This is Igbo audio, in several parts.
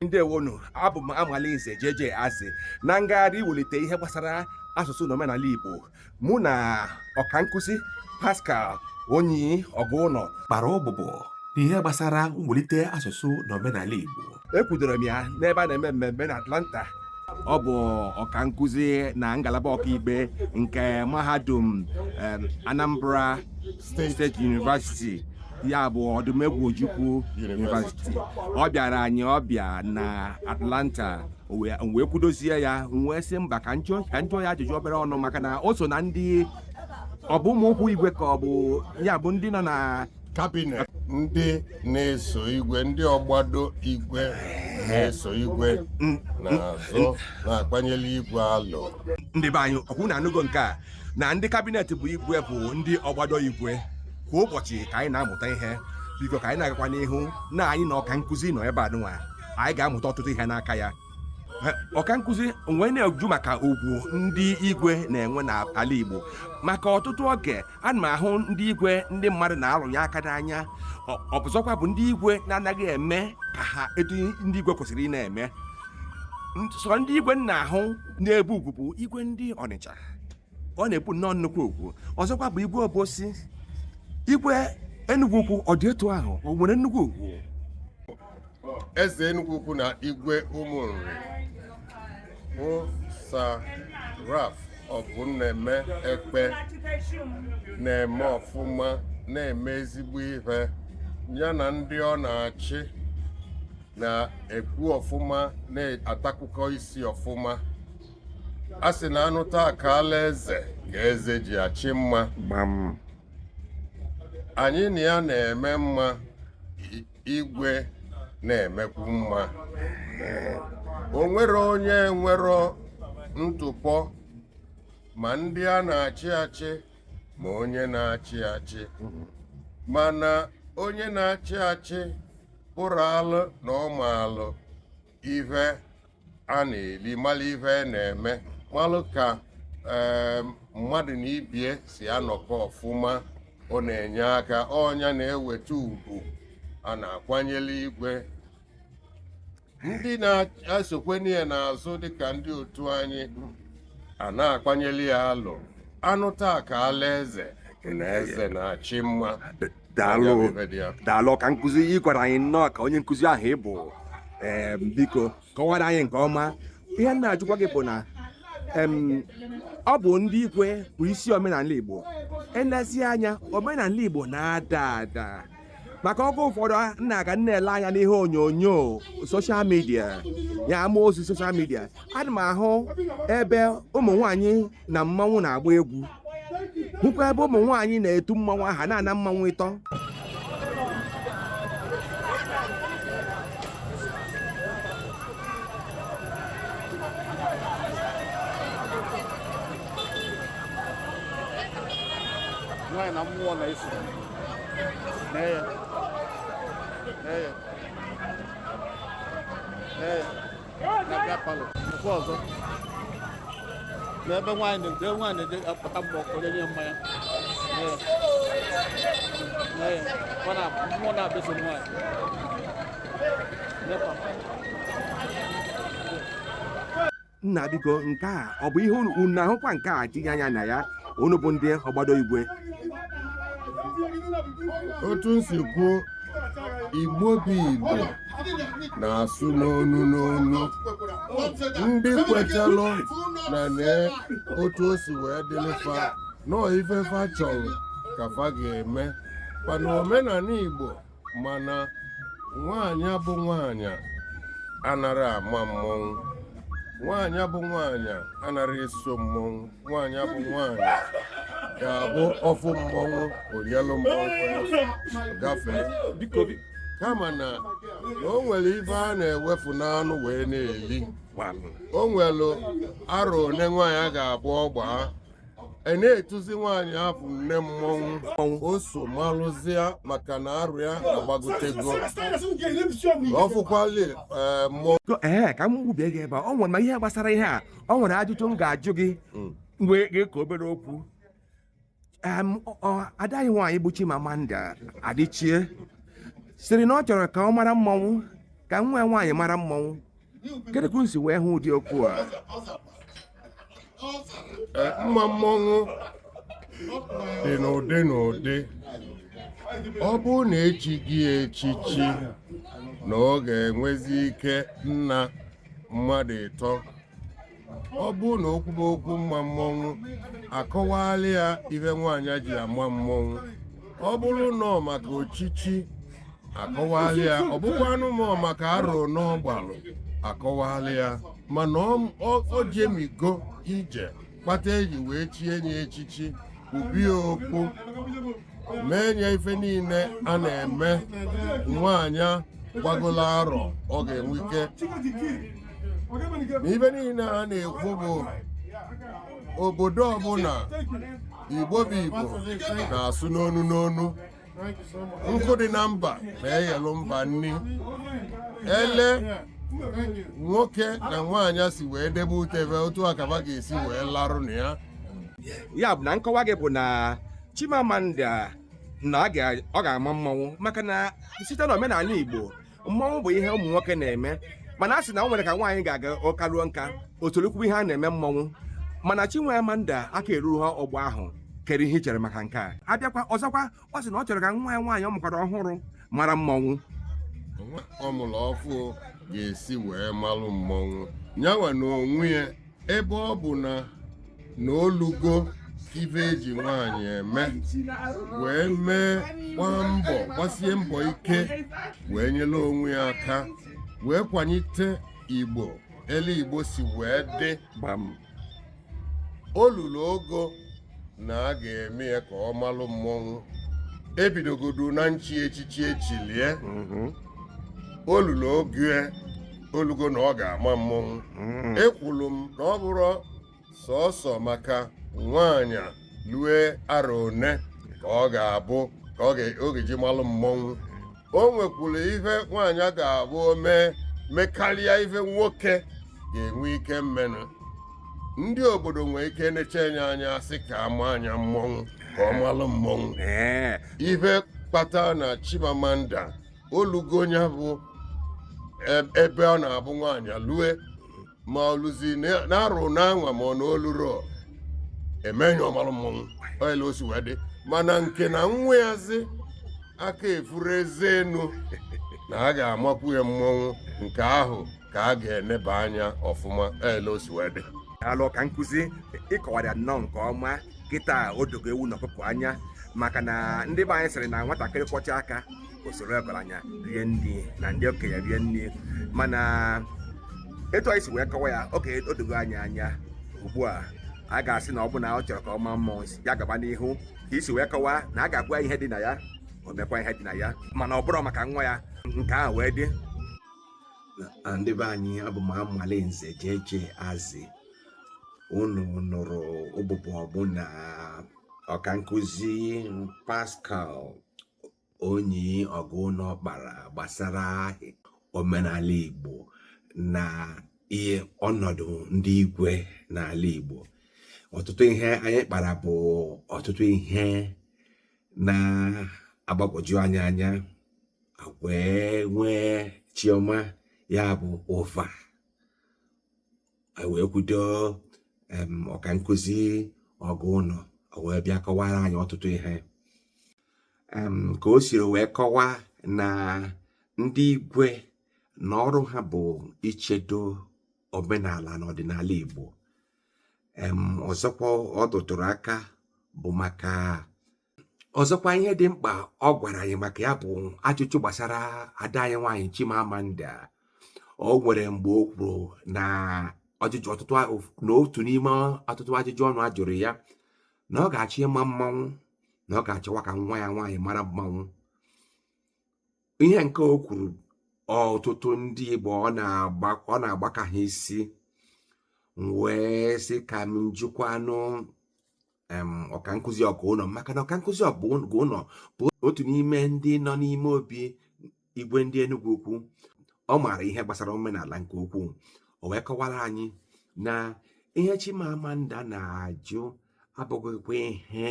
ndewonụ abụ m amalinze JJ Azị na ngagharị iwelite ihe gbasara asụsụ na omenala Igbo mụ na ọkankụzi Pascal Onyi Oguno kpara ụbụbọ n'ihe gbasara mwelite asụsụ na omenala Igbo ekwudoro m ya n'ebe a na-eme mmemme na Atlanta ọ bụ ọka nkụzi na ngalaba ọkaikpe nke mahadum Anambra State University ya bụ odumegwu ojukwu yunivasiti ọ bịara anyị ọbịa na atlanta o wee m wee kwudozie ya m wee sị mba ka m jụọ ka m jụọ ya ajụjụ obere ọnụ maka na o so na ndị ọ bụ ụmụ ụkwụ igwe ka ọ bụ ya bụ ndị nọ na kabinet ndị na-eso igwe ndị ọgbado igwe na-eso igwe na-azụ na-akwanyere igwe alụ ndị be anyị ọ kwa ụnụ anụgo nke a na ndị kabinet bụ igwe bụ ndị ọgbado igwe kwa ụbọchị ka anyị na-amụta ihe biko ka anyị na-agakwa n'ihu na anyị na ọka nkụzi nọ ebe a nwa anyị ga-amụta ọtụtụ ihe n'aka ya ọka nkụzi m wee na-ajụ maka ugwu ndị igwe na-enwe n'ala Igbo maka ọtụtụ oge ana m ahụ ndị igwe ndị mmadụ na-arụnye aka n'anya ọ bụ ọzọkwa bụ ndị igwe na-anaghị eme ka ha etu ndị igwe kwesịrị ị na-eme sọ ndị igwe m na-ahụ na-ebu ugwu bụ igwe ndị Ọnịcha ọ na-ebu nnọọ nnukwu ugwu ọzọkwa bụ igwe obosi igwe enugwu ukwu ọ dị etu ahụ o nwere nnukwu ugwu eze enugwu ukwu na igwe ụmụ nri bụ Sir Ralph Obumneme Ekpeh na-eme ọfụma na-eme ezigbo ihe ya na ndị ọ na-achị na-ekwu ọfụma na-atakụkọ isi ọfụma a sị na anụ taa akaala eze ka eze ji achị mma gbam anyị na ya na-eme mma i- igwe na-emekwu mma o nwerọ onye enwerọ ntụpọ ma ndị a na-achị achị ma onye na-achị achị mana onye na-achị achị pụrụ alụ na ọ ma alụ ife a na-eli malụ ife a na-eme malụ ka mmadụ na ibie si anọkọ ọfụma ọ na-enye aka ọ nya na-eweta ugwu a na-akwanyere igwe ndị na-esokwanụ ye n'azụ dịka ndị otu anyị a na-akwanyere ya alụ anụ taa ka ala eze na eze na-achị mma daalụ daalụ ọka nkụzi ị gwara anyị nnọọ ka onye nkụzi ahụ ị bụ em, biko kọwara anyị nke ọma ihe m na-ajụkwa gị bụ na em, ọ bụ ndị ikwe bụ isi omenala igbo elezi anya omenala igbo na-ada ada maka oge ụfọdụ m na-aga na-ele anya n'ihe onyonyo social media ya ama ozi social media ana m ahụ ebe ụmụ nwaanyị na mmanwụ na-agba egwu m hụkwa ebe ụmụ nwaanyị na-etu mmanwụ aha na-ana mmanwụ ịtọ nwaanyị na mmụọ na-eso nee ya nee ya nee ya n'ebe nwaanyị na-eje nwaanyị na-eje apụta mgbe ọkụ nye mmanya mmụọ na-abịaso nwaanyị nna biko nke a ọ bụ ihe unu ahụkwa nke a tinye anya na ya unu bụ ndị ọgbado igwe otu m si kwuo igbo bụ igbo na-asụ n'onu n'onu ndị kwetelụ na nee otu o si wee dịlị fa nee ife fa chọlụ ka fa ga-eme mana omenanị Igbo mana nwaanyị bụ nwaanyị anarọ ama mmọnwụ nwaanyị bụ nwaanyị anarọ eso mmọnwụ nwaanyị bụ nwaanyị ga-abụ ọ fụ mmọnwụ o nyelụ mmọnwụ gafee kama na na o nwere ife a na-ewefu n'anụ wee na-eli o nwere arọ one nwaanyị a ga-abụ ọ gbaa a na-etuzi nwaanyị afụ nne mmọnwụ o so malụzịa maka na arọ ya agbagotego ọ fụkwali ee mmọnwụ To- ee ka m gbubie gị ebe a o nwere ma ihe gbasara ihe a o nwere ajụjụ m ga-ajụ gị mgbe gị ka obere okwu Em, ọ- ọ- ada anyị nwaanyị bụ Chimamanda Adichie sịrị na ọ chọrọ ka ọ mara mmọnwụ ka nwa ya nwaanyị mara mmọnwụ kedụ ka unu si wee hụ ụdị okwu a Eh, mma mmọnwụ dị n'ụdị n'ụdị ọ bụrụ na e chie gị echichi na ọ ga-enwezi ike ịna mmadụ ịtọ ọ bụrụ na okwu bụ okwu mma mmọnwụ a kọwaalụ ya ihe nwaanyị ji ama mmọnwụ ọ bụrụ na ọ maka echichi a kọwaalụ ya ọ bụkwanụ na ọ maka arọ one ọ gbalụ a kọwaalụ ya mana ọ- ọ ọ jemigo ije kpata e ji wee chie nye echichi ubi okpu mee nya ife niile a na-eme nwaanyị gbagola arọ ọ ga-enwe ike na ife niile a na-ekwu bụ obodo ọbụla igbo bụ igbo na-asụ n'onu n'onu nkụ dị na mba na-eyelụ mba nni ele nwoke na nwaanyị si wee debe ute be otu a ka ba ga-esi wee larụ na ya ya bụ na nkọwa gị bụ na Chimamanda na a ga- ọ ga-ama mmọnwụ maka na site na omenala Igbo mmọnwụ bụ ihe ụmụ nwoke na-eme mana a sị na o nwere ka nwaanyị ga-aga ọ kaa ruo nka o tolukwue ihe a na-eme mmọnwụ mana Chimamanda aka erughị ọgbọ ahụ kere ihe i chere maka nke a a bịakwa ọzọkwa ọ sị na ọ chọrọ ka nwa ya nwaanyị ọ mụkwara ọhụrụ mara mmọnwụ nwa ọ mụrụ ọfụụ ga-esi wee malụ mmọnwụ nya nwa na onwe ya ebe ọ bụ na na o lugo ife e ji nwaanyị eme wee mee gbaa mbọ gbasie mbọ ike wee nyere onwe ya aka wee kwanyite igbo ele igbo si wee dị gbam o luru ogo na a ga-eme ya ka ọ malụ mmọnwụ e bidogodu na nchi echichi e chilie o luru ogo o lugo na ọ ga-ama mmọnwụ ekwuru m na ọ bụrọ sọsọ maka nwaanyị lue arọ one ka ọ ga-abụ ka ọ ga- ọ ga-eji malụ mmọnwụ o nwekwuru ife nwaanyị ga-abụ o mee mekarịa ife nwoke ga-enwe ike mmenụ ndị obodo nwee ike neche nya anya sị ka a maa nya mmọnwụ ka ọ malụ mmọnwụ ee ife kpata na chimamanda o lugo nya bụ e- ebe ọ na-abụ nwaanyị lue ma o luzi n'arọ n'anwa ma ọ na o lurọ e mee nya ọ malụ mmọnwụ ọ ya ele o si wee dị mana nke na nwa ya zi aka efurọ eze enu na a ga-amakwu ya mmọnwụ nke ahụ ka a ga-eneba anya ọfụma ọ ya ele o si wee dị daalụ ọkankụzi ị kọwara nnọọ nke ọma kịta o dogo ewu na ọkụkọ anya maka na ndị be anyị sịrị na nwatakịrị kwọcha aka o soro ọgaranya rie nri na ndị okenye rie nri mana etu i si wee kọwa ya oge o dogo anyị anya ugbu a a ga-asị na ọ bụ na ọ chọrọ ka ọ maa mmụọ ya gaba n'ihu ka i si wee kọwa na a ga-agwa ihe dị na ya o mekwa ihe dị na ya mana ọ bụrụ maka nwa ya nke ahụ wee dị ndị be anyị abụ m amale nze jeje azị unu nụrụ ụbụbọ mụ na ọkankụzi Pascal Onyi Oguno kpara gbasara omenala Igbo na ihe ọnọdụ ndị igwe n'ala Igbo ọtụtụ ihe anyị kpara bụ ọtụtụ ihe na-agbagwoju anya anya wee nwee chioma ya bụ ụva e wee kwudo ọka nkụzi Oguno o wee bịa kọwara anyị ọtụtụ ihe ka o siri wee kọwaa na ndị igwe na ọrụ ha bụ ichedo omenala na ọdịnala Igbo ọzọkwa ọ rụtụrụ aka bụ maka ọzọkwa ihe dị mkpa ọ gwara anyị maka ya bụ ajụjụ gbasara ada anyị nwaanyị Chimamanda o nwere mgbe o kwuru na ọjụjụ ọtụtụ na otu n'ime ọtụtụ ajụjụ ọnụ a jụrụ ya na ọ ga-achọ ịma mmanwụ na ọ ga-achọwa ka nwa ya nwaanyị mara mmanwụ ihe nke o kwuru ọtụtụ ndị Igbo ọ na-agbaka ha isi m wee sị ka m jụkwanụ ọka nkụzi Oguno maka na ọka nkụzi Oguno bụ otu n'ime ndị nọ n'ime obi igwe ndị Enugu ukwu ọ maara ihe gbasara omenala nke ukwuu o wee kọwara anyị na ihe Chimamanda na-ajụ abụghịkwa ihe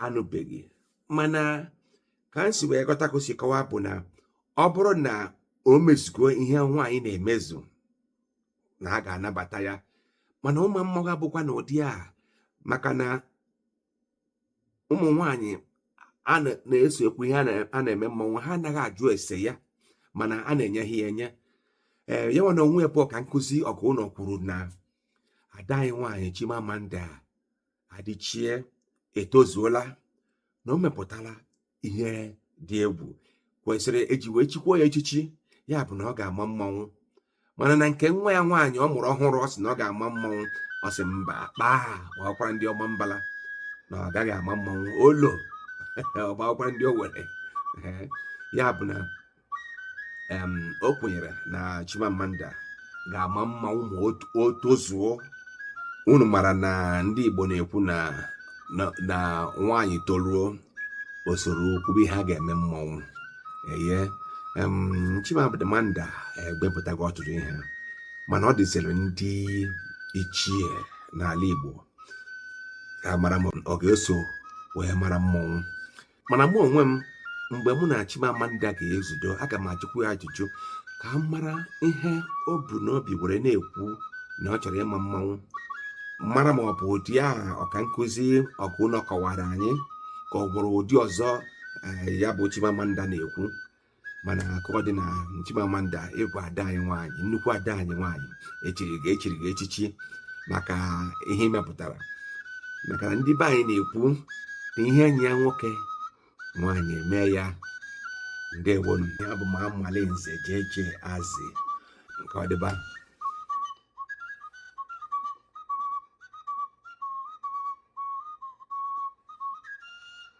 anụbeghị mana ka m si wee ghọta ka o si kọwa bụ na ọ bụrụ na o mezugo ihe nwaanyị na-emezu na a ga-anabata ya mana ịma mmụọ abụkwa na ụdị a maka na ụmụ nwaanyị a na- na-eso ekwu ihe a na- a na-eme mmọnwụ ha anaghị ajụ ese ya mana a na-enye ha ya enye ee ya nwa n'onwe ya bụ ọka nkụzi Oguno kwuru na ada anyị nwaanyị Chimamanda Adichie etozuola na o mepụtala ihe dị egwu kwesịrị e ji wee chikwaa ya echichi ya bụ na ọ ga-ama mmanwụ mana na nke nwa ya nwaanyị ọ mụrụ ọhụrụ ọ sị na ọ ga-ama mmanwụ ọ sị mba kpaa gbakwara ndị Ọmambala na ọ gaghị ama mmanwụ olo ọ gbakwara ndị Owere ya bụ na o kwenyere na Chimamanda ga-ama mmanwụ o tozuo unu mara na ndị Igbo na-ekwu na na nwaanyị toruo o soro kwube ihe a ga-eme mmọnwụ eye Chimamanda emepụtago ọtụtụ ihe mana ọ dịziri ndị ichie n'ala Igbo ịmara ma ọ ga-eso wee mara mmọnwụ mana mụ onwe m mgbe mụ na Chimamanda ga-ezudo aga m ajụkwu ya ajụjụ ka m mara ihe o bu n'obi were na-ekwu na ọ chọrọ ịma mmanwụ mara ma ọ bụ ụdị a ọka nkụzi Ọgụnọ kọwara anyị ka o nwere ụdị ọzọ eh, ya bụ Chimamanda na-ekwu mana ka ọ dị na Chimamanda ị bụ ada anyị nwaanyị nnukwu ada anyị nwaanyị e chiri gị e chiri gị echichi maka ihe i mepụtara maka na ndị be anyị na-ekwu na ihe nyịa nwoke nwaanyị emee ya ndewo nụ abụ m Amali nze jee jee azị nke ọdịba